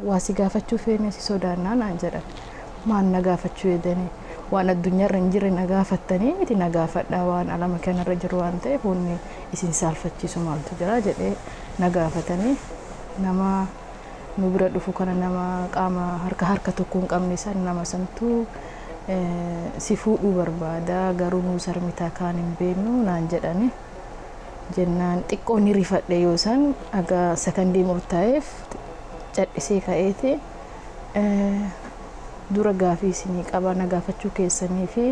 waa si gaafachuu feene si sodaannaa naan jedhan maal na gaafachuu jedhanii waan addunyaarra hin jirre na gaafattanii miti na gaafadhaa waan alama kanarra jiru waan ta'eef wanni isin saalfachiisu maaltu jira jedhee na gaafatanii nama nu bira dhufu kana nama qaama harka harka tokko hin qabne san nama santu Si fuudhuu barbaada garuu nuu sarmitaa kaan hin beeknu naan jedhani. Jennaan xiqqoo ni rifadhe yoo san aga sakandii murtaa'eef cadhisee ka'eeti. Dura gaafii isinii qaba na gaafachuu keessanii fi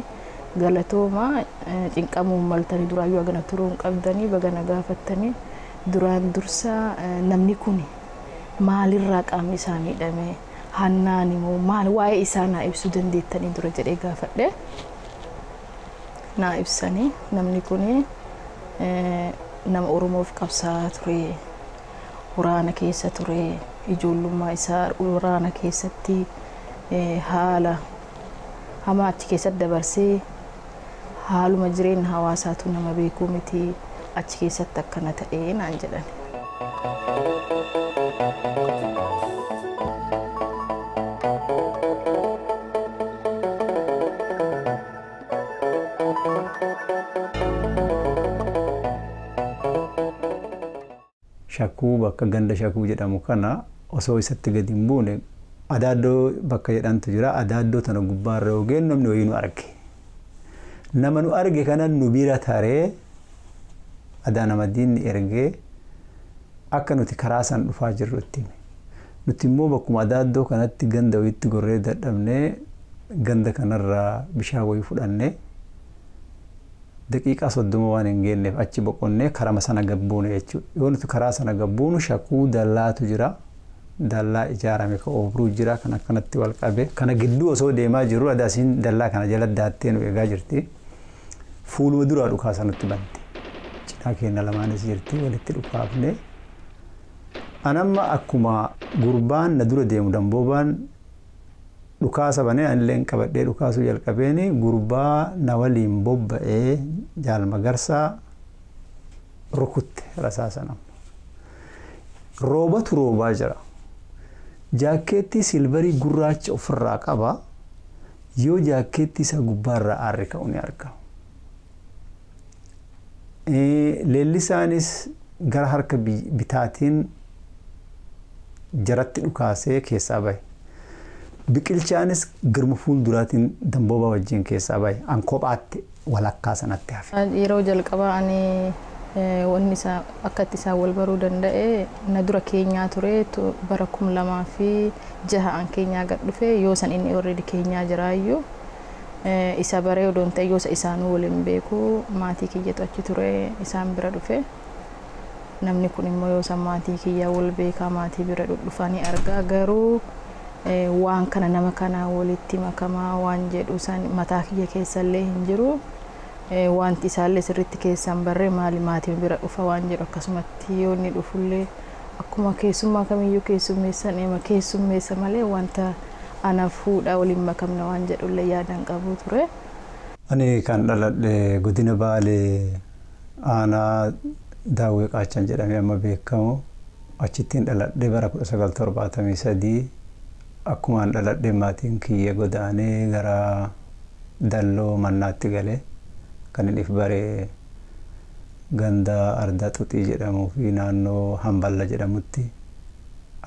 galatooma cinqamuu hin maltanii duraayyuu agana turuu hin qabdanii baga na gaafattanii duraan dursa namni kuni maalirraa qaamni isaa miidhame? Hannaani moo maal waa'ee isaa naa ibsuu dandeettanii dura jedhee gaafadhe. Naa ibsanii namni kun nama Oromoof qabsaa'aa ture. Waraana keessa ture. Ijoollummaa isaa waraana keessatti haala hamaa achi keessatti dabarsee Haaluma jireenya hawaasaatuu nama beekuu miti achi keessatti akkana ta'e naan jedhan. Shakkuu bakka ganda Shakuu jedhamu kana osoo isatti gadi hin buune Adaaddoo bakka jedhantu jira. Adaaddoo tana gubbaarra yoo geenyu namni wayii nu arge. Nama nu arge kana nu bira taree Adaan Amadiin ergee akka nuti karaa san dhufaa jirru itti hime. Nuti immoo bakkuma Adaaddoo kanatti ganda wayiitti gorree dadhabnee ganda kanarraa bishaan wayii fudhannee daqiiqaa 30 waan hin geenneef achi boqonnee karama sana gad buune jechuudha. Yoo nuti karaa sana gad buunu shakuu dallaatu jira. Dallaa ijaarame ka oobruu jira kan akkanatti wal qabe. Kana gidduu osoo deemaa jirru Adaasiin dallaa kana jala daattee nu eegaa jirti. Fuuluma duraa dhukaasa nutti bante. Cinaa keenya lamaanis jirti walitti dhukaafne. Anamma akkuma gurbaan na dura deemu damboobaan dhukaasa banee anilleen qabadhee dhukaasuu jalqabeen gurbaa na waliin bobba'ee Jaal Magarsaa rukutte rasaasan amma. Roobatu roobaa jira. Jaakkeettii silvarii gurraacha ofirraa qaba. Yoo jaakkeettii isaa gubbaarraa aarri ka'u ni argama. Leellisaanis gara harka bitaatiin jaratti dhukaasee keessaa bahe. Biqilchaanis garuma fuulduraatiin Damboobaa wajjin keessaa bahe. An kophaatti walakkaa sanatti hafe. Yeroo jalqabaa ani wanni isaa akka itti isaan wal baruu danda'e na dura keenyaa ture bara kum lamaa fi jaha an keenyaa gad dhufe yoo san inni already keenyaa jiraayyuu. isa baree odoo hin ta'in yosa isaanuu wal hin beeku maatii kiyyatu achi ture isaan bira dhufe namni kun immoo yosa maatii kiyyaa wal beekaa maatii bira dhudhufanii argaa garuu eh, waan kana nama kanaa walitti makamaa waan jedhu san mataa kiyya keessallee hin jiru Eh, wanti isaallee sirriitti keessaan barree maali maatii bira dhufa waan jedhu akkasumatti yoo inni dhufullee akkuma keessummaa kamiyyuu keessummeessan eema keessummeessa malee wanta Ana fuudha wal hin makamna waan jedhullee yaada hin qabu ture. Ani kan dhaladhe Godina Baalee Aanaa Daawwee Qaachan jedhamee amma beekamu achittin dhaladhe bara 1973 akkumaan dhaladheen maatiin kiyya godaanee gara Dalloo Mannaatti gale. Kanin if bare ganda Ardaa Xuxii jedhamuu fi naannoo Hamballa jedhamutti.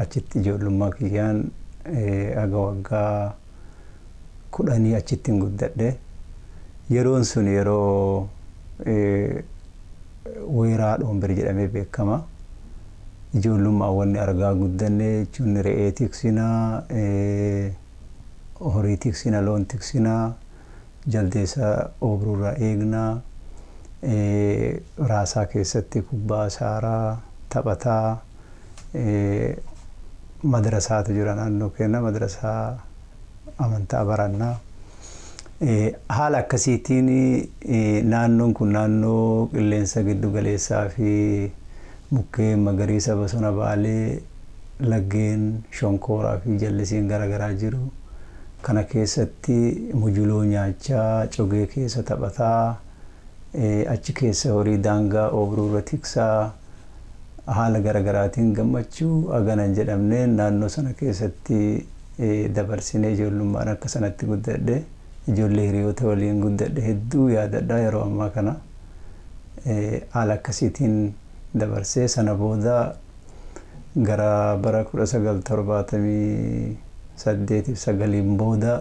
achitti ijoollummaa kiyyaan haga waggaa kudhanii achittin guddadhe. Yeroon sun yeroo weeraa Dhoomber jedhamee beekama. Ijoollummaan wanni argaa guddanne jechuun re'ee tiksina, horii tiksina, loon tiksina, jaldeessa oobrurraa eegna, raasaa keessatti kubbaa saaraa, taphataa. Madrasaatu jira naannoo keenya. Madrasaa amantaa baranna. Haala akkasiitiin naannoon kun naannoo qilleensa giddu galeessaa fi mukkeen magariisa bosona baalee laggeen shonkooraa fi jallisiin gara garaa jiru. Kana keessatti mujuloo nyaachaa, cogee keessa taphataa, achi keessa horii daangaa oobruu irra tiksaa, haala gara garaatiin gammachuu hagana hin jedhamne naannoo sana keessatti dabarsinee ijoollummaan akka sanatti guddadhe ijoollee hiriyoota waliin guddadhe hedduu yaadadha yeroo ammaa kana haala akkasiitiin dabarsee sana booda gara bara 1978 fi 9 booda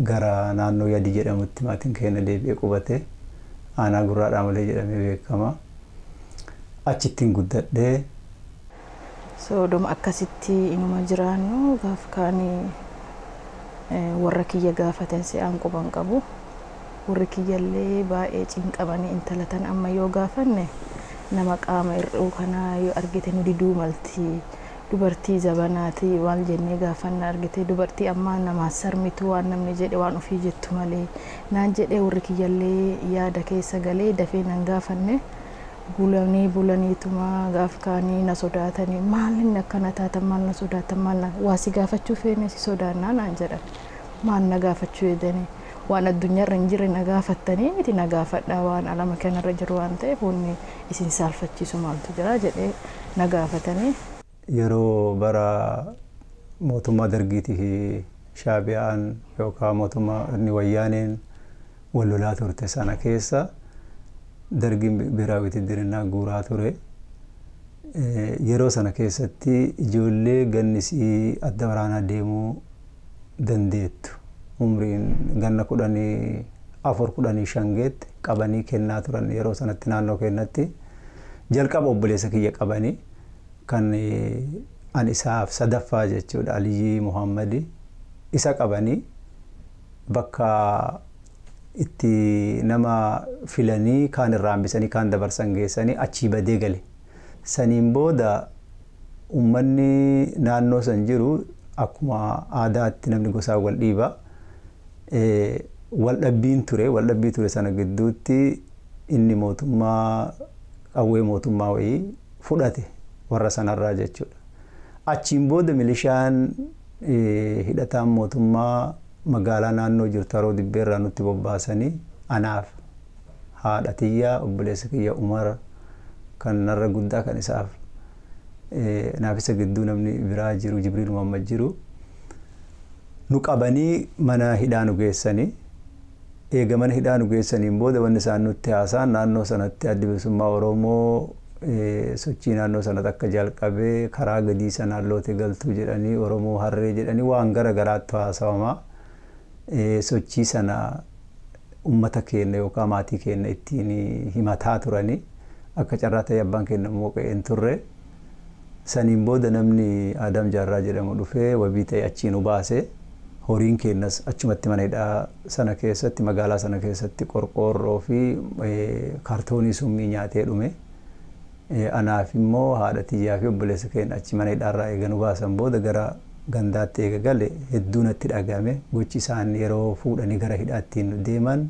gara naannoo yadi jedhamutti maatiin keenya deebi'ee qubate aanaa gurraa dhaamalee jedhamee beekama. achittin guddadhe. So odoma akkasitti inuma jiraannu gaaf kaan warra kiyya gaafaten se'aan quba hin qabu. Warri kiyyallee baay'ee cinqamanii intala tana amma yoo gaafanne nama qaama hir'uu kana yoo argite nu diduu malti Dubartii zabanaati maal jennee gaafanna argitee dubartii ammaa namaan sarmitu waan namni jedhe waan ofii jettu malee naan jedhee warri kiyyallee yaada keessa galee dafee nan gaafanne bulanii bulaniituma gaaf kaanii na sodaatanii maal inni akkana taatan maal na sodaatan maal na waa si gaafachuu feene si sodaannaa naan jedhan maal na gaafachuu jedhanii waan addunyaarra hin jirre na gaafattanii miti na gaafadhaa waan alama kanarra jiru waan ta'eef wanni isin saalfachiisu maaltu jira? jedhee na gaafatanii. Yeroo bara mootummaa Dargiitii fi Shaabiyaan yookaan mootummaan Wayyaaneen wal lolaa turte sana keessa Dargiin Biheraawi Witiddirinnaa guuraa ture. Yeroo sana keessatti ijoollee ganni isii adda waraanaa deemuu dandeettu umriin ganna 14, 15 geette qabanii kennaa turan yeroo sanatti naannoo keennatti. Jalqaba obboleessa kiyya qabani kan an isaaf sadaffaa jechuudha Aliyyii Muhaammadi isa qabanii bakka itti nama filanii kaan irraa hambisanii kaan dabarsan geessanii achii badee gale. Saniin booda. ummanni naannoo san jiru akkuma aadaatti namni gosaan wal dhiiba. Wal dhabbiin ture. Wal dhabbii ture sana gidduutti inni mootummaa qawwee mootummaa wayii fudhate warra sanarraa jechuudha. Achiin booda milishaan hidhataan mootummaa magaalaa naannoo jirtu haroo dibbeerraa nutti bobbaasanii anaaf haadha tiyya obboleessa kiyya umar kan narra guddaa kan isaaf naaf isa gidduu namni biraa jiru jibriil muhammad jiru nu qabanii mana hidhaa nu geessanii eega mana hidhaa nu geessaniin booda wanni isaan nutti haasaan naannoo sanatti addi bilisummaa oromoo sochii naannoo sanatti akka jalqabe karaa gadii sanaan loote galtuu jedhanii oromoo harree jedhanii waan gara garaattu haasawamaa sochii sana ummata keenna yookaa maatii keenna ittiin himataa turani. Akka carraa ta'ee abbaan keenna immoo qe'ee hin turre. Saniin booda namni Aadaam Jaarraa jedhamu dhufee wabii ta'ee achii nu baase. Horiin keennas achumatti mana hidhaa sana keessatti, magaalaa sana keessatti qorqoorroo fi kaartoonii summii nyaatee dhume. Anaaf immoo haadha tiyyaa fi obboleessa keenya achi mana hidhaa irraa eega nu baasan booda gara gandaatti eega gale hedduu natti dhagahame. Gochi isaan yeroo fuudhanii gara hidhaa ittiin nu deeman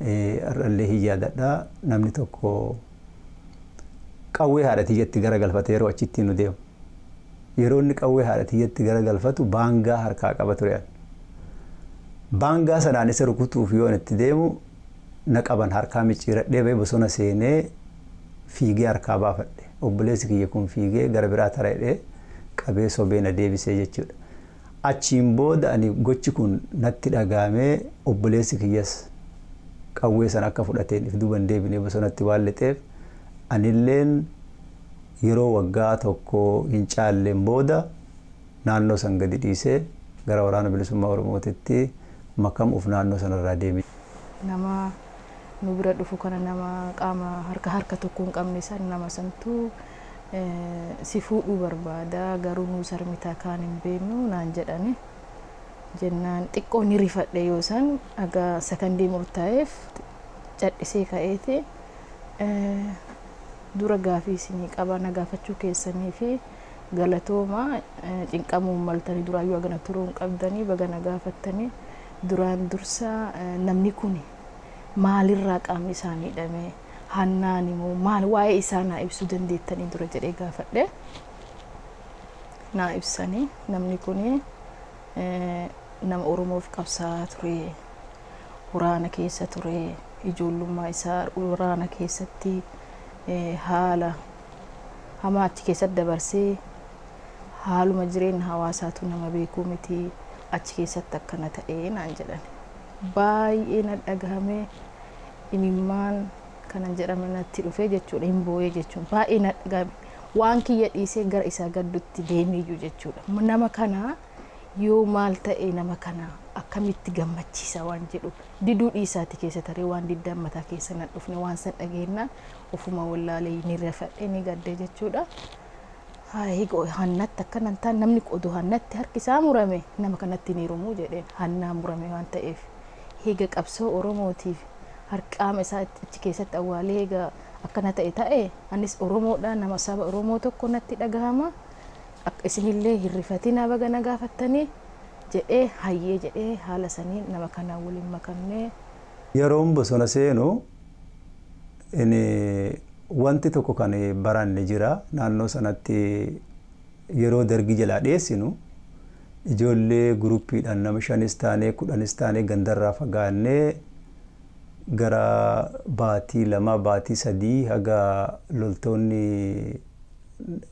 har'a illee hin yaadadha. Namni tokko qawwee haadha tiyyatti gara galfata yeroo achi ittiin nu deemu. Yeroo inni qawwee haadha tiyyatti gara galfatu baangaa harkaa qaba ture ani. Baangaa sanaan isa rukutuuf yoon itti deemu na qaban harkaa micciiradhee ba'e bosona seenee fiigee harkaa baafadhe. Obboleessi kiyya kun fiigee gara biraa tara jedhee qabee sobee na deebisee jechuudha. Achiin booda ani gochi kun natti dhagaamee obboleessi kiyyas qawwee sana akka fudhateen if duuba hin deebinee bosonatti waan lixeef anilleen yeroo waggaa tokko hin caalleen booda naannoo san gadi dhiisee gara Waraana Bilisummaa Oromootitti makamuuf naannoo sanarraa deeme. Nama nu bira dhufu kana nama qaama harka harka tokko hin qabne san nama santu si fuudhuu barbaada garuu nuu sarmita kaan hin beeknu naan jedhani. Jennaan xiqqoo ni rifadhe yoo san aga sakandii murtaa'eef cadhisee ka'eeti dura gaafii isinii qaba na gaafachuu keessanii fi Galatoomaa cinqamuu hin maltanii duraayyuu hagana turuu hin qabdanii baga na gaafattanii duraan dursa namni kuni maalirraa qaamni isaa miidhame hannaani moo maal waa'ee isaa naa ibsuu dandeettanii dura jedhee gaafadhe naa ibsanii namni kuni eh, nama oromoof qabsaa'aa ture waraana keessa ture ijoollummaa isaa waraana keessatti eh, haala hamaa achi keessatti dabarsee haaluma jireenya hawaasaatu nama beekuu miti achi keessatti akkana ta'ee naan jedhan baay'ee na dhagahame imimmaan kanan jedhame natti dhufee jechuudha hin boo'ee jechuun baay'ee na dhagahame waan kiyya dhiisee gara isaa gaddutti deemeeyyu jechuudha nama kana yoo maal ta'e nama kana akkamitti gammachiisa waan jedhu diduu dhiisaati keessa taree waan diddaan mataa keessa na dhufne waan san dhageenna Ofuma wallaalee ni rifadhe ni gadde jechuudha. Higo hannatti akkana hin taane namni qodu hannatti harki isaa murame nama kanatti hin heerumuu jedheen hannaa murame waan ta'eef higa qabsoo Oromootiif harqaama isaa achi keessatti awwaalee higa akkana ta'e ta'e anis Oromoodha nama saba Oromoo tokko natti dhagahama akka isinillee hin rifatinaa baga na gaafattanii jedhee hayyee jedhee haala saniin nama kanaan waliin makamnee. Yeroon bosona seenu Wanti tokko kan baranne jira. Naannoo sanatti yeroo dargii jalaa dheessinu ijoollee guruppiidhaan nama shanis taanee kudhanis taanee gandarraa fagaannee gara baatii lamaa baatii sadii haga loltoonni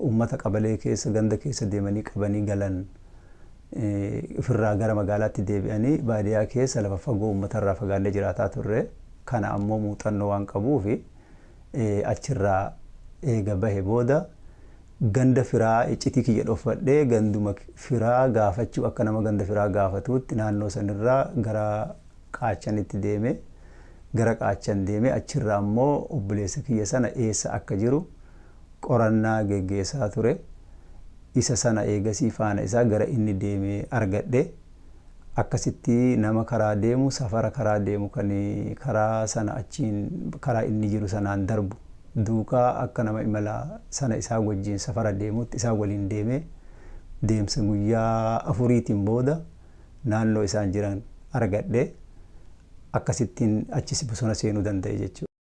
uummata qabalee keessa ganda keessa deemanii qabanii galan ofirraa gara magaalaatti deebi'anii baadiyaa keessa lafa fagoo uummatarraa fagaannee jiraataa turre. kana ammoo muuxannoo waan qabuuf achirraa eega bahe booda ganda firaa iccitii kiyya dhofadhee ganduma firaa gaafachuu akka nama ganda firaa gaafatuutti naannoo sanirraa gara Qaachanitti deeme. Gara Qaachan deemee achirraa ammoo obboleessa kiyya sana eessa akka jiru qorannaa geggeessaa ture. Isa sana eegasii faana isaa gara inni deeme argadhe. akkasitti nama karaa deemu safara karaa deemu kan karaa sana achiin karaa inni jiru sanaan darbu duukaa akka nama imala sana isaa wajjin safara deemuutti isaa waliin deemee deemsa guyyaa afuriitiin booda naannoo isaan jiran argadhe akkasittiin achis bosona seenuu danda'e jechuudha.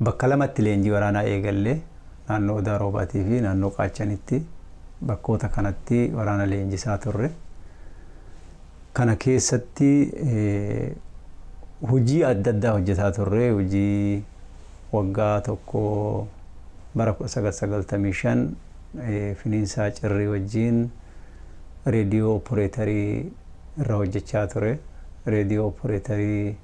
Bakka lamatti leenjii waraanaa eegalle, naannoo Odaa Roobaatii fi naannoo Qaachanitti. Bakkoota kanatti waraana leenjisaa turre. Kana keessatti hojii adda addaa hojjetaa turre. Hojii waggaa tokko bara 1995 Finiinsaa Cirrii wajjin reediyoo opporeetarii irra hojjechaa ture. Reediyoo opporeetarii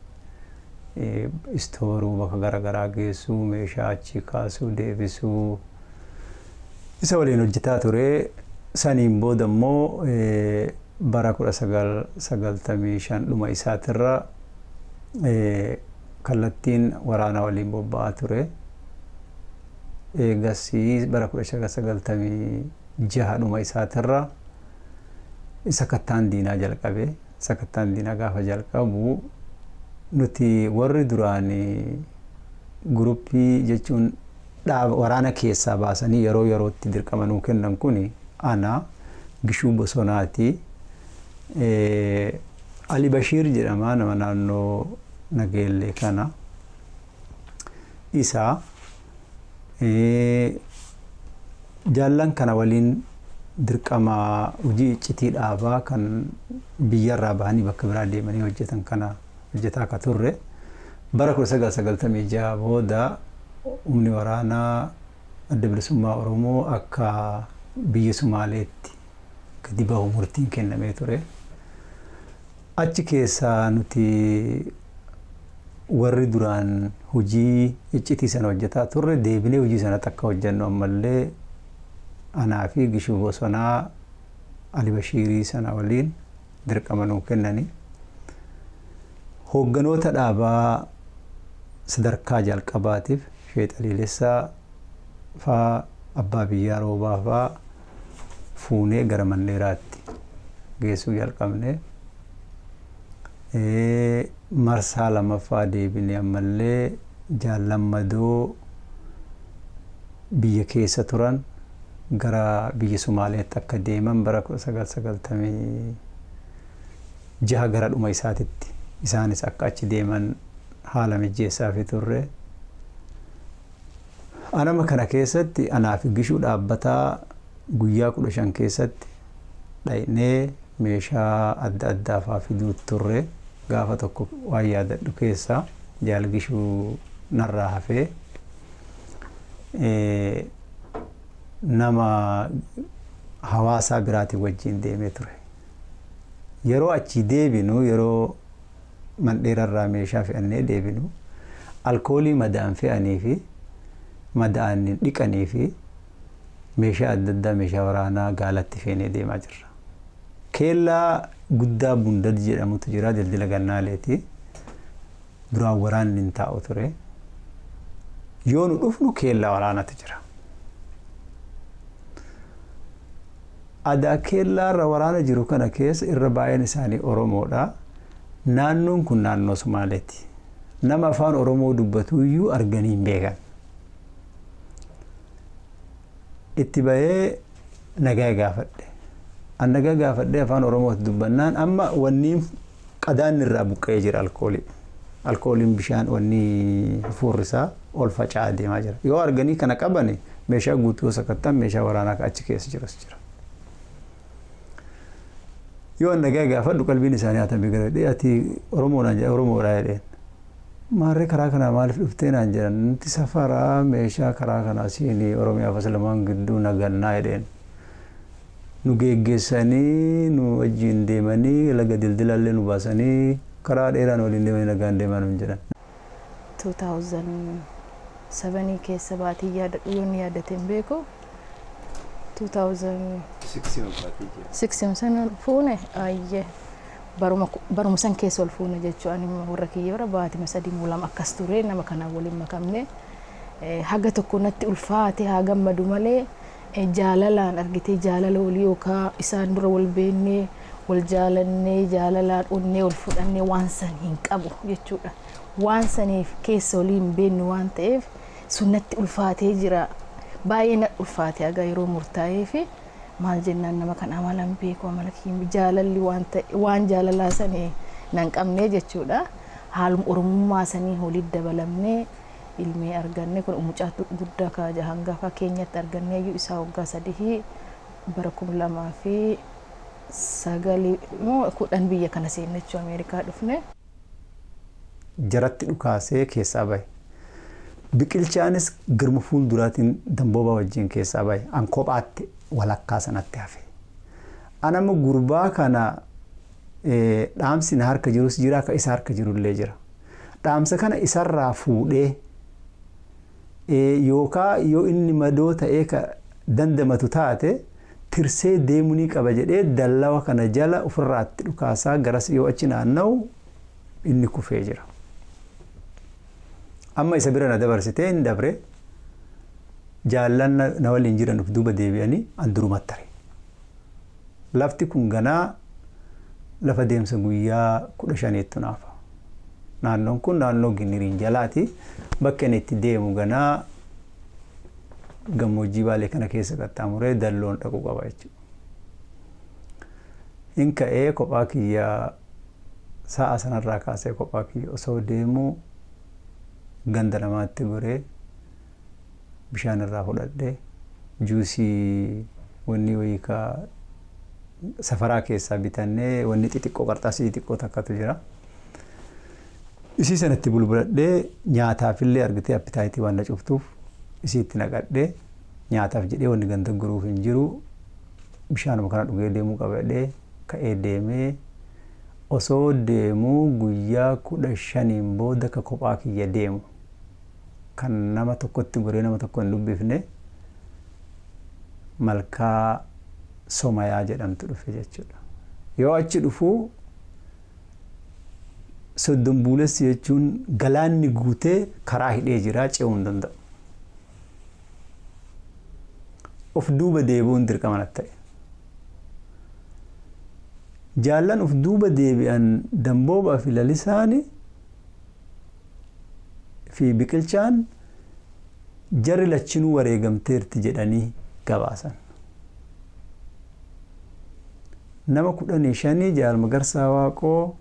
istooruu, bakka garagaraa geessuu, meeshaa achii kaasuu, deebisuu isa waliin hojjetaa ture. Saniin booda immoo bara 1995 dhuma isaatirra kallattiin waraana waliin bobba'aa ture. Eegasii bara 1996 dhuma isaatirra sakattaan diinaa jalqabe. Sakattaan diinaa gaafa jalqabu nuti warri duraan guruppii jechuun dhaaba waraana keessaa baasanii yeroo yerootti dirqama nuu kennan kun ana Gishuu Bosonaati. Ali Bashiir jedhama nama naannoo Nageellee kana. Isa Jaallan kana waliin dirqama hojii iccitii dhaabaa kan biyyarraa bahanii bakka biraa deemanii hojjetan kana hojjetaa akka turre bara 1996 booda humni waraanaa adda bilisummaa Oromoo akka biyya Sumaaleetti gadi bahu murtiin kennamee ture. Achi keessaa nuti warri duraan hojii iccitii sana hojjetaa turre deebinee hojii sanatti akka hojjennu ammallee anaa fi Gishuu Bosonaa Ali Bashiirii sana waliin dirqama nuu kennani. Hoogganoota dhaabaa sadarkaa jalqabaatiif Sheek Xaliilessaa faa, Abbaa Biyyaa Roobaa faa, fuunee gara Mandheeraatti geessuu jalqabne. Marsaa lamaffaa deebinee ammallee Jaal Lammadoo biyya keessa turan gara biyya Sumaaleetti akka deeman bara 1996 gara dhuma isaatitti isaanis akka achi deeman haala mijjeessaafii turre. Anama kana keessatti anaa fi Gishuu dhaabbataa guyyaa 15 keessatti dhaqnee meeshaa adda addaa faa fiduut turre. Gaafa tokko waan yaadadhu keessaa Jaal Gishuu narraa hafee nama hawaasaa biraatii wajjiin deemee ture. Yeroo achii deebinu yeroo. Mandheerarraa meeshaa fe'annee deebinu, alkoolii madaan fe'anii fi madaa'aniin dhiqanii fi meeshaa adda addaa meeshaa waraanaa gaalatti feenee deemaa jirra. Keellaa guddaa Bundad jedhamutu jira dildila Gannaaleeti. Duraan waraanni hin taa'u ture. Yoo nu dhufnu keellaa waraanatu jira. Adaa Keellaa irra waraana jiru kana keessa irra baay'een isaanii Oromoodha. Naannoon kun naannoo Somaaleeti. Nama afaan Oromoo dubbatu iyyuu arganii hin beekan. Itti bahee nagaa gaafadhe. An nagaa gaafadhee afaan Oromooti dubbannaan amma wanniin Qadaadni irraa buqqa'ee jira alkoolii. Alkooliin bishaan wanni hafuurri isaa ol faca'aa deemaa jira. Yoo arganii kana qabani meeshaa guutuu sakatta'an meeshaa waraanaa achi keessa jirus jira. Yoo an nagaa gaafadhu qalbiin isaanii hatamee gara dhee ati Oromoo naan jedha Oromoodha jedheen. Maarree karaa kanaa maaliif dhuftee naan jedhan nuti safaraa meeshaa karaa kanaa siinii Oromiyaa fi Islamaan gidduu nagannaa jedheen. nu geeggeessanii nu wajjiin deemanii laga dildilaa illee nu baasanii karaa dheeraa nu waliin deemanii nagaan deemaa nuun jedhan. 2007 keessa baatii yaadadhu yoon yaadate hin beeku 2006 sana fuune ayyee baruma baruma san keessa ol fuune jechuu ani warra kiyya bara baatima sadii moo lama akkas ture nama kanaan waliin makamne eh, haga tokko natti ulfaate haa gammadu malee Jaalalaan argitee jaalala walii yookaa isaan dura wal beennee wal jaalannee jaalalaan onnee wal fudhannee waan san hin qabu jechuudha. Waan saniif keessa walii hin beennu waan ta'eef sun natti ulfaatee jira. Baay'ee na ulfaate haga yeroo murtaa'ee fi maal jennaan nama kan amala hin beeku amala kiyya jaalalli waan ta'e waan jaalalaa sanii nan qabnee jechuudha. Haaluma oromummaa sanii walitti dabalamnee ilmii arganne kun mucaatu gudda ka hangafa kenyatti arganneeyyu isaa waggaa sadihi bara kum lamaa fi sagali moo kudhan biyya kana seenne jechuu ameerikaa dhufne. jaratti dhukaasee keessaa bahe. Biqilchaanis grma fuulduraatiin Damboobaa wajjin keessaa bahe. An kophaatti walakkaa sanatti hafe. An amma gurbaa kana Dhaamsi na harka jirus jira ka isa harka jirullee jira. Dhaamsa kana isarraa fuudhee yookaa yoo inni madoo ta'ee ka dandamatu taate tirsee deemunii qaba jedhee dallawa kana jala ofirraatti dhukaasaa garas yoo achi naanna'u inni kufee jira. Amma isa bira na dabarsitee hin dabre jaallan na waliin jiran of duuba deebi'anii an durumatti tare. Lafti kun ganaa lafa deemsa guyyaa 15ttu naafa. Naannoon kun naannoo Giniriin jalaati. Bakki ani itti deemu ganaa gammoojjii Baalee kana keessa qaxxaamuree Dalloon dhaquu qaba jechuudha. Hin ka'ee kophaa kiyya sa'a sanarraa kaasee kophaa kiyya osoo deemuu ganda namaatti goree bishaan irraa fudhadhe juusii wanni wayii ka safaraa keessaa bitanne wanni xixiqqoo qarxaasii xixiqqoo takkatu jira. Isii sanatti bulbuladhee nyaataafillee argitee appitaayitii waan na cuftuuf isii itti naqadhee nyaataaf jedhee wanni ganda guruuf hin jiru bishaanuma kana dhugee deemuu qabadhee ka'ee deemee osoo deemuu guyyaa kudha shaniin booda ka kophaa kiyya deemu. kan nama tokkotti goree nama tokko hin dubbifne malkaa somayaa jedhamtu dhufe jechuudha. Yoo achi dhufu soddon buulessi jechuun galaanni guutee karaa hidhee jira ce'uu hin danda'u. Of duuba deebi'uun dirqama natti ta'e. Jaallan of duuba deebi'an damboobaa fi lalisaani fi Biqilchaan jarri lachinuu wareegamteerti jedhanii gabaasan. Nama 15 Jaal Magarsaa Waaqoo,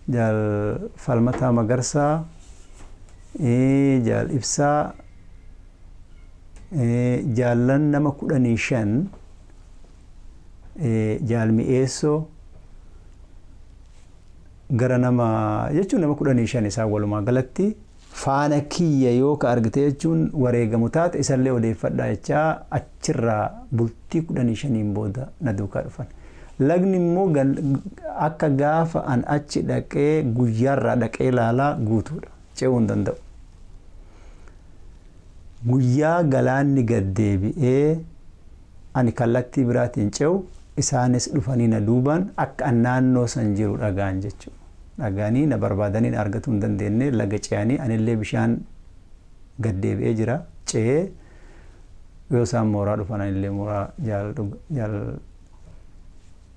Jaal Falmataa Magarsaa, Jaal Ibsaa, jaallan nama 15 Jaal Mi'eessoo, gara nama jechuun nama kudhanii shan isaan walumaa galatti faana kiyya yoo ka argite jechuun wareegamu taate isallee odeeffadhaa jechaa achirraa bultii kudhanii shaniin booda na duukaa dhufan. Lagni immoo akka gaafa an achi dhaqee guyyaarraa dhaqee laalaa guutuudha. Ce'uu hin danda'u. Guyyaa galaanni gad deebi'ee Ani kallattii biraatiin ce'u, isaanis dhufanii na duubaan akka an naannoo san jiru dhaga'an jechu. Dhaga'anii na barbaadanii na argatuu hin dandeenne, laga ce'anii anillee bishaan gad deebi'ee jira ce'ee yoo isaan mooraa dhufan anillee mooraa Jaal Jaal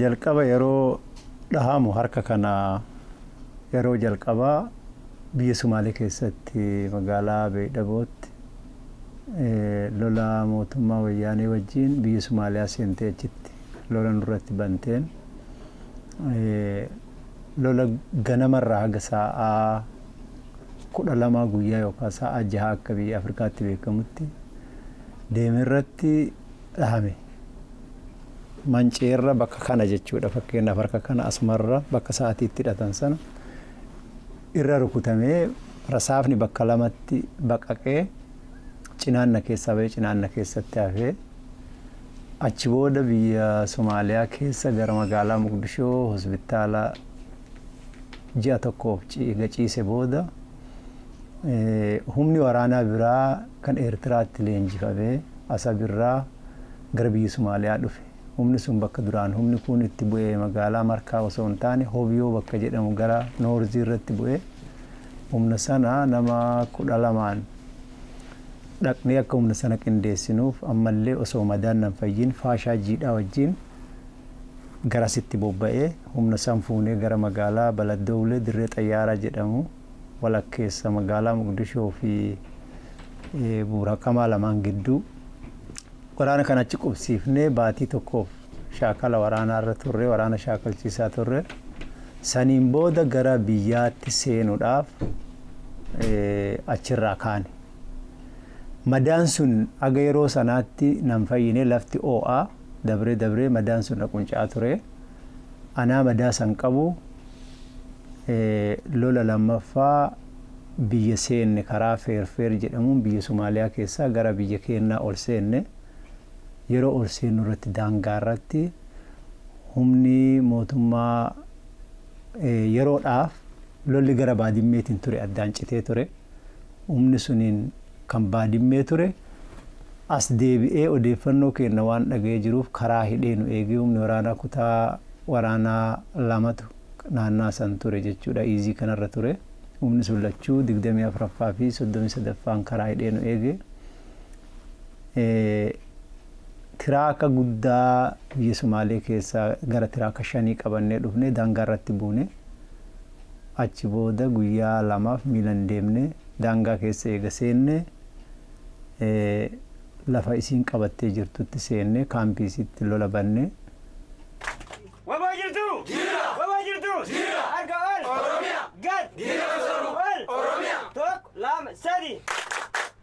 Jalqaba yeroo dhahamu harka kana yeroo jalqabaa biyya Sumaalee keessatti magaalaa Beeydhabootti lola mootummaa Wayyaanee wajjiin biyya Sumaaliyaa seentee achitti lola nurratti banteen lola ganama irraa haga saa'aa 12 guyyaa yookaan saa'aa 6 akka biyya Afrikaatti beekamutti deeme irratti dhahame. Manceerra bakka kana jechuudha fakkeenyaaf harka kana asumarra bakka sa'aatii itti hidhatan sana irra rukutamee rasaafni bakka lamatti baqaqee cinaanna keessaa ba'ee cinaanna keessatti hafee achi booda biyya Somaaliyaa keessa gara magaalaa Muqdishoo hospitaala ji'a tokkoof ciiga ciise booda humni waraanaa biraa kan Eertiraatti leenjifamee Asab irraa gara biyya Sumaaliyaa dhufe. Humni sun bakka duraan humni kuun itti bu'e magaalaa Markaa osoo hin taane Hobyoo bakka jedhamu gara Noorzii irratti bu'e. Humna sana nama kudha lamaan dhaqnee akka humna sana qindeessinuuf ammallee osoo madaan nan fayyin Faashaa Jiidhaa wajjin garasitti bobba'e humna san fuunee gara magaalaa Baladowlee dirree xayyaaraa jedhamu walakkeessa magaalaa Moqdishoo fi Buurhakamaa lamaan gidduu waraana kana achi qubsiifnee baatii tokkoof shaakala waraanaa irra turre waraana shaakalchiisaa turre saniin booda gara biyyaatti seenuudhaaf achirraa kaane. Madaan sun haga yeroo sanaatti nan fayyine lafti oo'aa. Dabree dabree madaan sun na qunca'aa ture. Anaa madaa san qabu lola lammaffaa biyya seenne karaa Feerfeer jedhamuun biyya Somaaliyaa keessaa gara biyya keennaa ol seenne. Yeroo ol seennu irratti daangaa irratti humni mootummaa yeroodhaaf lolli gara Baadimmeetiin ture addaan citee ture. Humni suniin kan Baadimmee ture as deebi'ee odeeffannoo keenna waan dhaga'ee jiruuf karaa hidhee nu eegee humni waraanaa kutaa waraanaa lamatu naannaa san ture jechuudha Iizii kanarra ture. Humni sun lachuu 24ffaa fi 33ffaan karaa hidhee nu eege. Tiraaka guddaa biyya Sumaalee keessaa gara tiraaka shanii qabannee dhufne daangaarratti buune. Achi booda guyyaa lamaaf miilan deemne. Daangaa keessa eega seenne lafa isiin qabattee jirtutti seenne kaampii isiitti lola banne. Wbo jirtuu? Jirra! Wbo jirtuu? Jirra! Harka ol! Oromiyaa! Gad! Diina kan soru! Ol! Oromiyaa! Tokko, lama, sadii!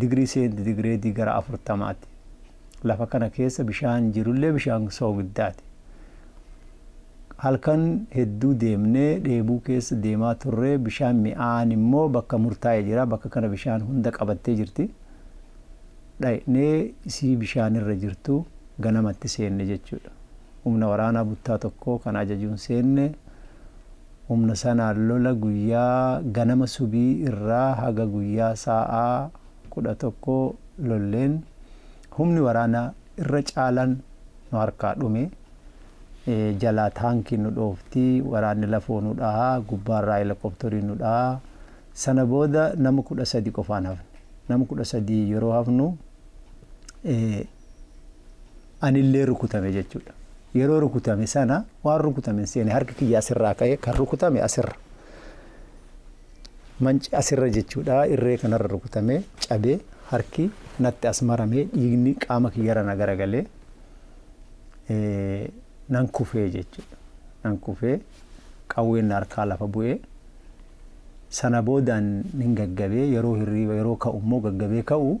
digirii seenti digireedii gara 40ti. Lafa kana keessa bishaan jirullee bishaan soogiddaati. Halkan hedduu deemnee dheebuu keessa deemaa turree bishaan mi'aan immoo bakka murtaa'e jira bakka kana bishaan hunda qabattee jirti. Dhaqnee isii bishaan irra jirtu ganamatti seenne jechuudha. Humna waraanaa buttaa tokkoo kana ajajuun seenne Humna sanaan lola guyyaa ganama subii irraa haga guyyaa saa'aa 11 lolleen humni waraana irra caalan nu harkaa dhume. Jalaa taankiin nu dhoofti, waraanni lafoo nu dhaha, gubbaarraa helokoptorii nu dhaha. Sana booda nama 13 qofaan hafne. Nama 13 yeroo hafnu anillee rukutame jechuudha. Yeroo rukutame sana waan rukutame hin seene harki kiyya asirraa ka'ee kan rukutame asirra. Manci asirra jechuudha irree kanarra rukutame cabee harki natti as maramee dhiigni qaama kiyyarra na garagalee nan kufee jechuudha. Nan kufee qawween na harkaa lafa bu'ee sana boodaan nin gaggabee yeroo hirriiba yeroo ka'u immoo gaggabee ka'u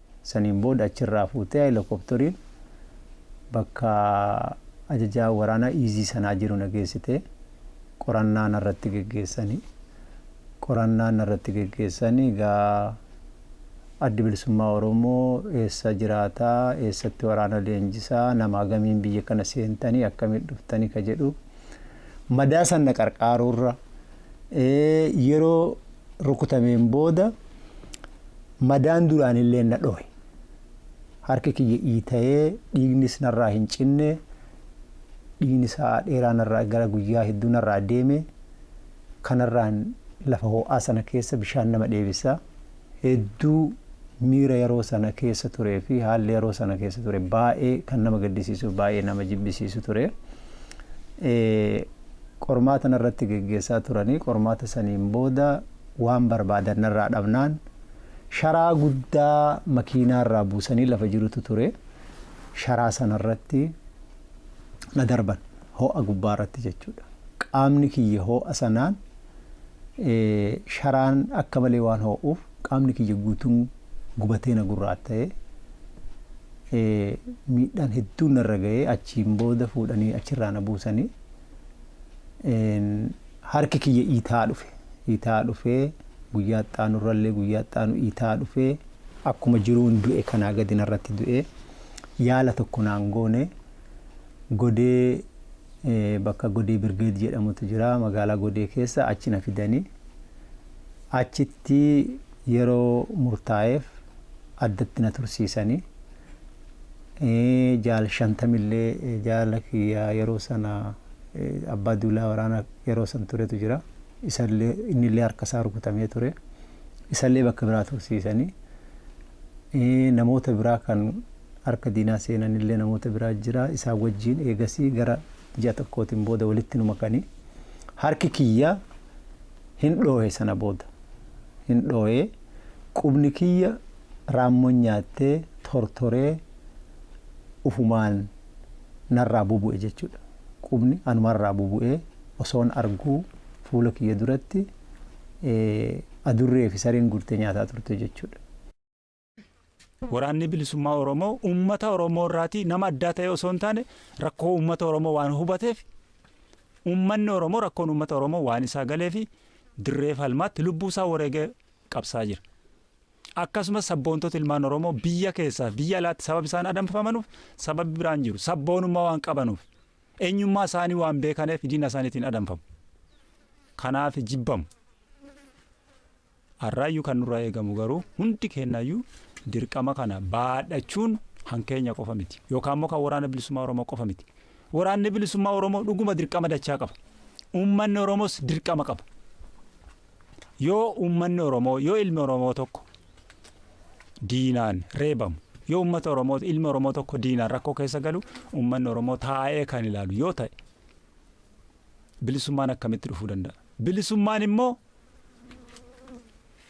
Saniin booda achirraa fuutee Helikopteriin bakka ajajaa waraanaa Iizii sanaa jiru na geessitee qorannaa narratti geggeessani. Qorannaa narratti geggeessani egaa Addi Bilisummaa Oromoo eessa jiraata, eessatti waraana leenjisa, nama hagamiin biyya kana seentani, akkamiin dhuftani ka jedhu madaa san na qarqaaruurra yeroo rukutameen booda madaan duraan illee na dhohe. Harki kiyya iitayee dhiignis narraa hin cinne dhiigni sa'aa dheeraa narraa gara guyyaa hedduu narraa deeme kanarraan lafa ho'aa sana keessa bishaan nama dheebisa. Hedduu miira yeroo sana keessa turee fi haalli yeroo sana keessa ture baay'ee kan nama gaddisiisu baay'ee nama jibbisiisu ture. qormaata narratti geggeessaa turanii qormaata saniin booda waan barbaadan narraa dhabnaan sharaa guddaa makiinaarraa buusanii lafa jirutu ture sharaa sanarratti na darban hoo'a gubbaarratti jechuudha qaamni kiyya hoo'a sanaan Sharaan akka malee waan hoo'uuf qaamni kiyya guutuun gubatee na gurraatta'e. Miidhaan hedduun narra ga'ee achiin booda fuudhanii achirraa na buusanii. Harki kiyya iita'aa dhufe. Iita'aa dhufee guyyaa itti aanurrallee guyyaa itti aanu iita'aa dhufee akkuma jiruun du'e kanaa gadi narratti du'ee yaala tokko naan goone godee bakka Godee Birgeed jedhamutu jira magaalaa Godee keessa achi na fidanii achitti yeroo murtaa'eef addatti na tursiisanii jaal shantamillee jaala kiyya yeroo sana abbaa duulaa waraana yeroo san turetu jira isallee innillee harka isaa rukutamee ture isallee bakka biraa tursiisanii namoota biraa kan harka diinaa seenan illee namoota biraa jira isaan wajjiin eegasii gara ji'a tokkootiin booda walitti nu makanii harki kiyya hin dhoohe sana booda hin dhoohee qubni kiyya raammoon nyaattee tortoree ufumaan narraa bubu'e jechuudha qubni anumarraa bubu'ee osoon arguu fuula kiyya duratti adurree fi sareen gurtee nyaataa turte jechuudha. Waraanni Bilisummaa Oromoo uummata Oromoo irraatii nama addaa ta'ee osoo hin taane rakkoo uummata Oromoo waan hubateef uummanni Oromoo rakkoon uummata Oromoo waan isaa galee fi dirree falmaatti lubbuu isaa wareegee qabsaa jira. Akkasumas sabboontota ilmaan Oromoo biyya keessaa fi biyya alaatti sababa isaan adamfamanuuf sababi biraan jiru. Sabboonummaa waan qabanuuf eenyummaa isaanii waan beekaneef diina isaaniitiin adamfamu. Kanaaf jibbamu. Har'aayyuu kan nurraa eegamu garuu hundi keenyaayyuu dirqama kana baadhachuun kan keenya qofa miti. Yookaan immoo kan Waraana Bilisummaa Oromoo qofa miti. Waraanni Bilisummaa Oromoo dhuguma dirqama dachaa qaba. Uummanni Oromoos dirqama qaba. Yoo uummanni Oromoo, yoo ilmi Oromoo tokko diinaan reebamu, yoo uummata Oromoo, ilmi Oromoo tokko diinaan rakkoo keessa galu, uummanni Oromoo taa'ee kan ilaalu yoo ta'e bilisummaan akkamitti dhufuu danda'a? Bilisummaan immoo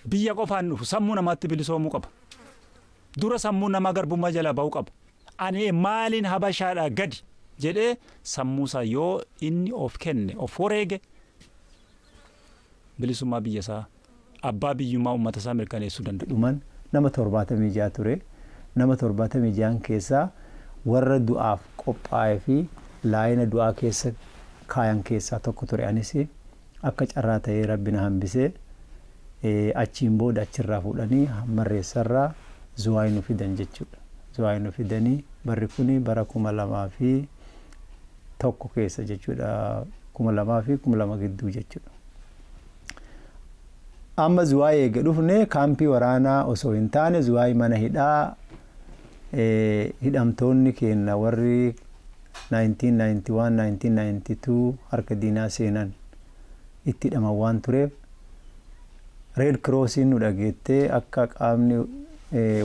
Biyya qofa hin dhufu. Sammuu namaatti bilisoomuu qaba. Dura sammuun namaa garbummaa jalaa ba'uu qaba. Ani maaliin habashaadhaa gadi jedhee sammuusaa yoo inni of kenne of wareege bilisummaa biyyasaa abbaa biyyummaa ummatasaa mirkaneessuu danda'a. dhuman nama 76 ture. Nama 76n keessaa warra du'aaf qophaa'ee fi laayina du'aa keessa kaayan keessaa tokko ture anis. Akka carraa ta'ee Rabbi na hambisee achiin booda achirraa fuudhanii Hammarreessarraa Zuwaay nu fidan jechuudha. Zuwaay nu fidanii barri kuni bara 2001 keessa jechuudha 2000 fi 2000 gidduu jechuudha. Amma Zuwaay eega dhufne kaampii waraanaa osoo hin taane Zuwaay mana hidhaa hidhamtoonni keenna warri 1991-1992 harka diinaa seenan itti hidhaman waan tureef Reed Kiroosiin nu dhageettee akka qaamni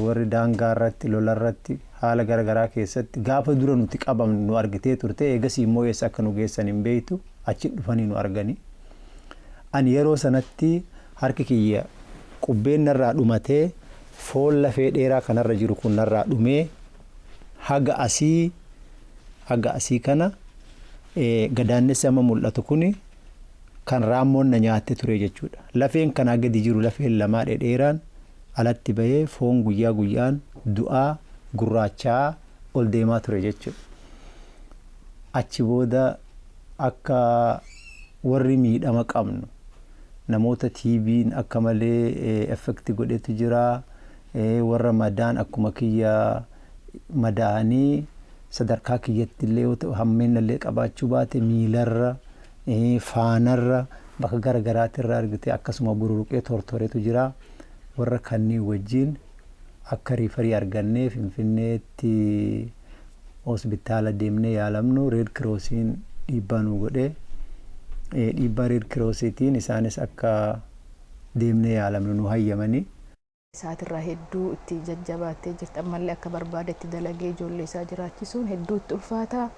warri daangaa irratti, lola irratti, haala gara garaa keessatti gaafa dura nuti qabamnu nu argitee turte eegasii immoo eessa akka nu geessan hin beektu achi dhufanii nu arganii. Ani yeroo sanatti harki kiyya qubbeen narraa dhumatee foon lafee dheeraa kanarra jiru kun narraa dhumee, haga asii haga asii kana gadaannessi amma mul'atu kuni kan raammoon na nyaatte ture jechuudha. Lafeen kanaa gadi jiru lafeen lamaa dhedheeraan alatti bahee foon guyyaa guyyaan du'aa gurraacha'aa ol deemaa ture jechuudha. Achi booda akka warri miidhama qabnu namoota TB'n akka malee effekti godhetu jira. Warra madaan akkuma kiyya madaa'anii sadarkaa kiyyattillee yoo ta'u hammeennallee qabaachuu baate miilarra, faanarra, bakka gara garaatirra argitee akkasuma bururuqee tortoretu jira. Warra kanneen wajjin akka riifarii argannee Finfinneetti hospitaala deemnee yaalamnu Reed Kiroosiin dhiibbaa nuu godhe. Dhiibbaa Reed Kiroosiitiin isaanis akka deemnee yaalamnu nuu hayyamani. isaatirraa hedduu itti jajjabaattee jirti. Ammallee akka barbaadetti dalagee ijoollee isaa jiraachisuun hedduu itti ulfaata.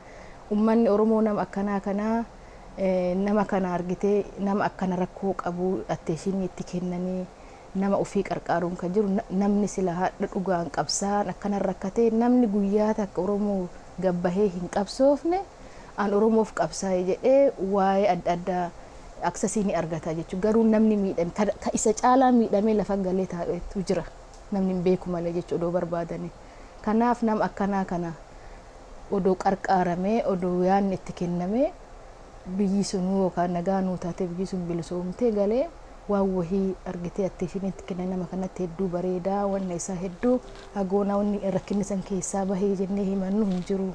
Ummanni Oromoo nama akkanaa kana nama kana argitee nama akkana rakkoo qabu atteeshinii itti kennanii nama ofii qarqaaruun kan jiru namni sila hadha dhugaan qabsaan akkana rakkatee namni guyyaa takka Oromoo gabbahee hin qabsoofne an Oromoof qabsaa'e jedhee waa'ee adda addaa access ni argata jechuudha. Garuu namni miidhame ka, ka isa caalaa miidhamee lafa galee taa'etu jira. Namni hin beeku malee jechuudha odoo barbaadanii. Kanaaf nama akkanaa kana odoo qarqaaramee, odoo yaadni itti kennamee biyyi sunuu yookaan nagaa nuu taatee biyyi sun bilisoomtee galee waan wahii argitee attention itti kenna nama kanatti hedduu bareeda, wanna isaa hedduu haa goonaa wanni rakkinni san keessaa bahe jennee himannu hin jiru.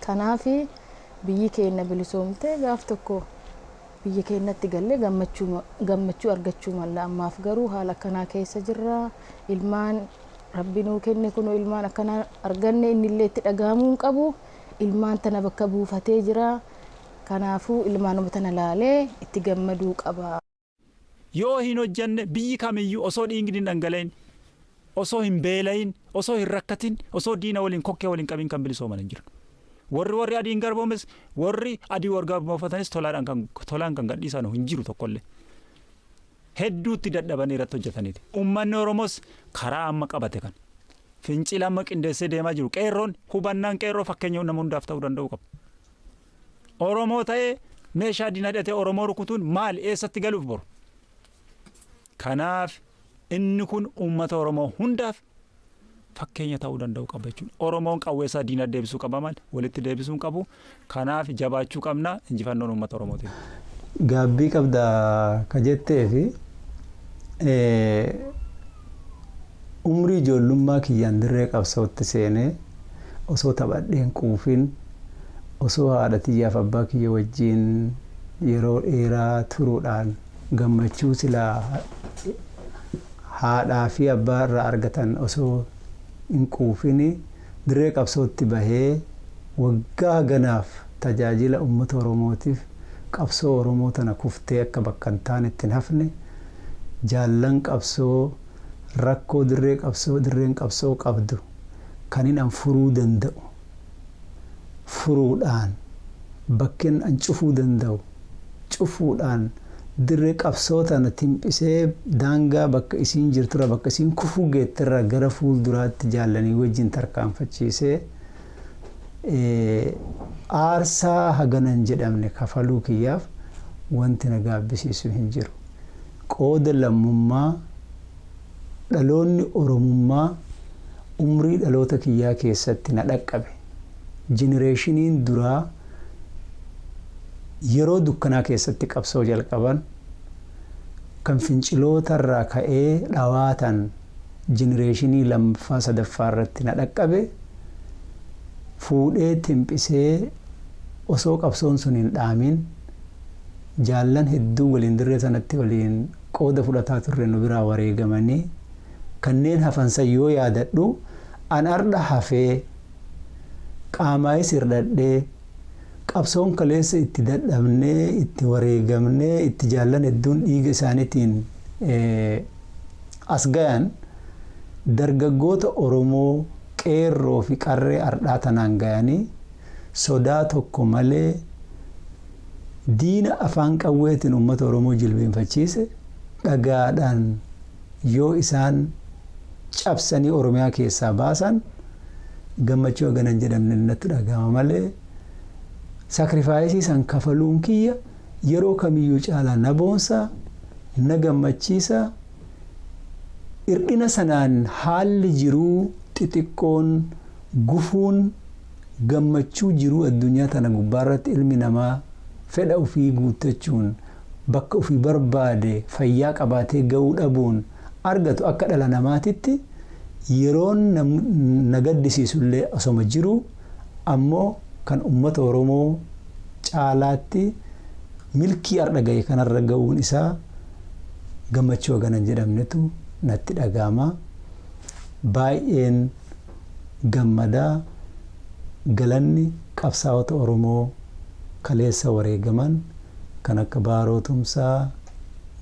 Kanaaf biyyi keenna bilisoomtee gaaf tokko biyya keennatti gallee gammachuu argachuu malla. Ammaaf garuu haala akkanaa keessa jirra. Ilmaan Rabbi nuu kenne kunoo ilmaan akkanaa arganne innillee itti dhagahamuu hin qabu. Ilmaan tana bakka buufatee jira. Kanaafuu ilmaanuma tana laalee itti gammaduu qaba. Yoo hin hojjanne biyyi kamiyyuu osoo dhiigni hin dhangala'in, osoo hin beela'in, osoo hin rakkatin, osoo diina waliin kokkee wal hin qabin kan bilisooman hin jiru. Warri warri adiin garboomes, warri adii wal garboomfatanis tolaadhaan kan tolaan kan gadhiisanu hin jiru tokkollee. Hedduutti dadhabanii irratti hojjetaniiti. Ummanni Oromoos karaa amma qabate kan fincila amma qindeessee deemaa jiru qeerroon hubannaan qeerroo fakkeenya nama hundaaf ta'uu danda'uu qaba. Oromoo ta'ee meeshaa diina hidhatee Oromoo rukutuun maali? Eessatti galuuf boru? Kanaaf inni kun uummata Oromoo hundaaf fakkeenya ta'uu danda'u qaba jechuudha. Oromoon qawweessaa diina deebisuu qaba malee walitti deebisuu hin qabu. Kanaaf jabaachuu qabna injifannoon uummata Oromootiin. Gaabbii qabda ka jetteefi Umrii ijoollummaa kiyyaan dirree qabsootti seenee osoo taphadhee hin quufin, osoo haadha tiyyaaf abbaa kiyya wajjiin yeroo dheeraa turuudhaan gammachuu silaa haadhaa fi abbaa irraa argatan osoo hin quufin dirree qabsootti bahee waggaa haganaaf tajaajila ummata Oromootiif qabsoo Oromoo tana kuftee akka bakka hin taanetti hin hafne jaallan qabsoo rakkoo dirree qabsoo dirreen qabsoo qabdu kanin an furuu danda'u furuudhaan bakken an cufuu danda'u cufuudhaan dirree qabsoo tana timphisee daangaa bakka isiin jirturra bakka isiin kufuu geetterra gara fuul duraatti jaallanii wajjin tarkaanfachiisee aarsaa hagana hin jedhamne kafaluu kiyyaaf wanti na gaabbisiisu hin jiru. qooda lammummaa dhaloonni Oromummaa umrii dhaloota kiyyaa keessatti na dhaqqabe, jenereeshiniin duraa yeroo dukkanaa keessatti qabsoo jalqaban, kan finciloota irraa ka'ee dhawaatan jenereeshinii lammaffaa sadaffaa irratti na dhaqqabe, fuudhee timphisee osoo qabsoon sun hin dhaamin, jaallan hedduun waliin dirree sanatti waliin qooda fudhataa turre nu biraa wareegamanii kanneen hafan san yoo yaadadhu an ardha hafee qaamaayis hirdhadhee qabsoon kaleessa itti dadhabnee itti wareegamnee itti jaallan hedduun dhiiga isaanitiin as gayan dargaggoota Oromoo qeerroo fi qarree ardhaa tanaan gayanii sodaa tokko malee Diina afaan qawweetiin uummata Oromoo jilbeenfachiise dhagaadhaan yoo isaan cabsanii Oromiyaa keessaa baasan gammachuu hagana hin jedhamne natti dhagahama malee sakrifaayisii san kafaluun kiyya yeroo kamiyyuu caalaa na boonsa, na gammachiisa, irdhina sanaan haalli jiruu xixiqqoon, gufuun Gammachuu jiruu addunyaa tana gubbaarratti ilmi namaa fedha ufii guuttachuun bakka ufi barbaade fayyaa qabaatee ga'uu dhabuun argatu akka dhala namaatitti yeroon na gaddisiisullee osoma jiruu ammoo kan ummata Oromoo caalaatti milkii ardha ga'e kanarra ga'uun isaa gammachuu hagana hin jedhamnetu natti dhaga'ama. Baay'een Gammadaa galanni qabsaa'ota Oromoo kaleessa wareegaman kan akka Baaroo Tumsaa,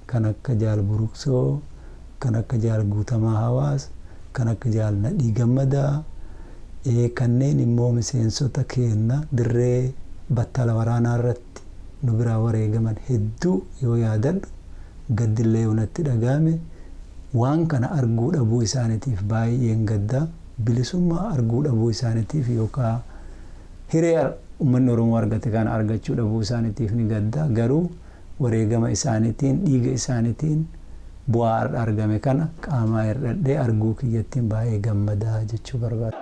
kan akka Jaal Buruksoo, kan akka Jaal Guutamaa Hawaas, kan akka Jaal Nadhii Gammadaa, kanneen immoo miseensota keenna dirree battala waraanaa irratti. Oromiyaatti nu biraa wareegaman hedduu yoo yaadadhu gaddi illee yoo natti dhaga'ame waan kana arguu dhabuu isaanitiif baay'een gadda. Bilisummaa arguu dhabuu isaanitiif yookaa hiree ummanni Oromoo argate kana argachuu dhabuu isaanitiif ni gadda. Garuu wareegama isaanitiin, dhiiga isaanitiin bu'aa har'a argame kana qaamaa hirdhadhee arguu kiyyattin baay'ee gammada jechuu barbaada.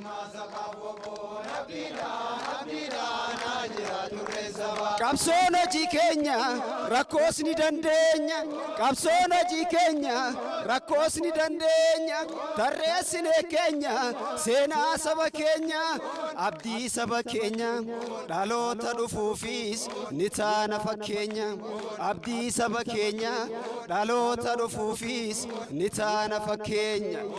Qabsoon hojii keenya rakkoos ni dandeenya Qabsoon hojii keenya rakkoos ni dandeenya Tarreessinee keenya seenaa saba keenya Abdii saba keenya dhaloota dhufuufis ni taana fakkeenya Abdii saba keenya dhaloota dhufuufis ni taana fakkeenya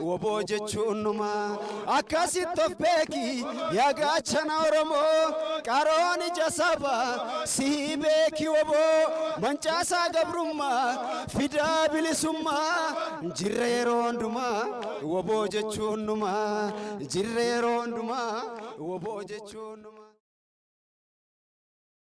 Wbo jechuun numa akkasitti of beeki yaa gaachana Oromoo qaroon ija saba sii beeki wbo mancaasaa gabrummaa fidaa bilisummaa jirra yeroo hundumaa wbo jechuun numa jirra yeroo hundumaa wbo jechuun numa.